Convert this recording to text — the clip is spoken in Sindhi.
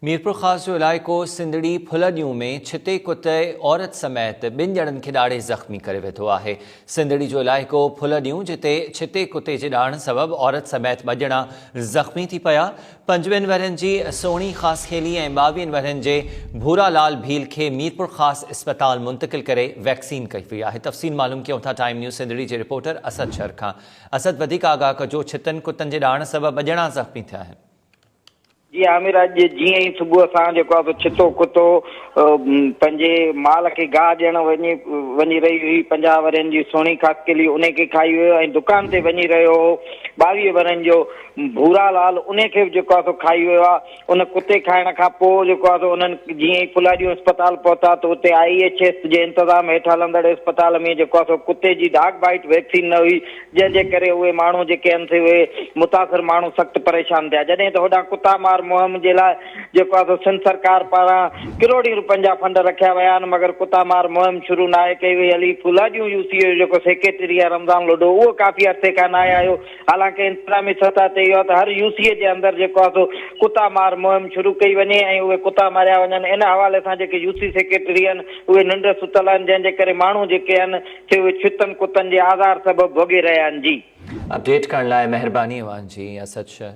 ميرپورخاص جو علائقو سنڌڙي ڦلڏيون ۾ ڇتي ڪتي عورت سميت ٻن ڄڻن کي ڏاڙهي زخمي ڪري وڌو آهي سنڌڙي جو علائقو ڦلڏيون جتي ڇتي ڪتي جي ڏاڙهن سبب عورت سميت ٻه ڄڻا زخمي ٿي پيا پنجوين ورهين جي سهڻي خاصخيلي ۽ ٻاويهن ورهين جي ڀورا لال ڀيل کي ميرپورخاص اسپتال منتقل ڪري ويڪسين ڪئي وئي آهي تفصيل معلوم ڪيون ٿا ٽائيم نيوز سنڌڙي جي رپورٽر اسد شر کان اسد وڌيڪ آگاهه ڪجو ڇتن ڪتن جي ڏاڙهن سبب ٻه ڄڻا زخمي ٿيا آهن جي عامر اڄ جيئن ئي صبح سان جيڪو آهي سو ڇتو ڪتو پنهنجي مال کي گاهه ڏيڻ وڃي وڃي رهي هئي پنجاهه ورهين جي سهڻي خاڪيلي انهي کي کائي ويو ۽ دڪان تي وڃي رهيو هو ٻاويهه ورهين جو ڀورا لال انهي کي به جيڪو آهي سو کائي ويو آهي ان ڪتي کائڻ کان پوء جيڪو آهي سو انهن جيئن ئي ڦلاڏيون اسپتال پهتا ته اتي آئي ايڇ ايس جي انتظام هيٺ هلندڙ اسپتال ۾ جيڪو آهي سو ڪتي جي ڊاگ بائيٽ ويڪسين نه هئي جنهن جي ڪري اهي ماڻهو جيڪي هن سي اهي متاثر ماڻهو سخت پريشان ٿيا جڏهن ته هوڏانهن ڪتا مار مهم جي لاء جيڪو آسو سنڌ سرڪار پاران ڪروڙين رپين جا فنڊ رکيا ويا آهن مگر ڪتا مار مهم شروع ناهي ڪئي وئي علي ڦولا جون يو سي اي جو جيڪو سيڪريٽري آهي رمضان لوڍو اهو ڪافي عرصي کان ناهي آيو حالانڪه انتظامي سطح تي اهو آهي ته هر يو سي اي جي اندر جيڪو آهي سو ڪتا مار مهم شروع ڪئي وڃي ۽ اهي ڪتا ماريا وڃن ان حوالي سان جيڪي يو سي سيڪريٽري آهن اهي ننڊ ستل آهن جنهن جي ڪري ماڻهو جيڪي آهن سي اهي ڇتن ڪتن جي آزار سبب ڀوڳي رهيا آهن جي. اپڊيٽ ڪرڻ لاء مهرباني اوهان جي اسد شر.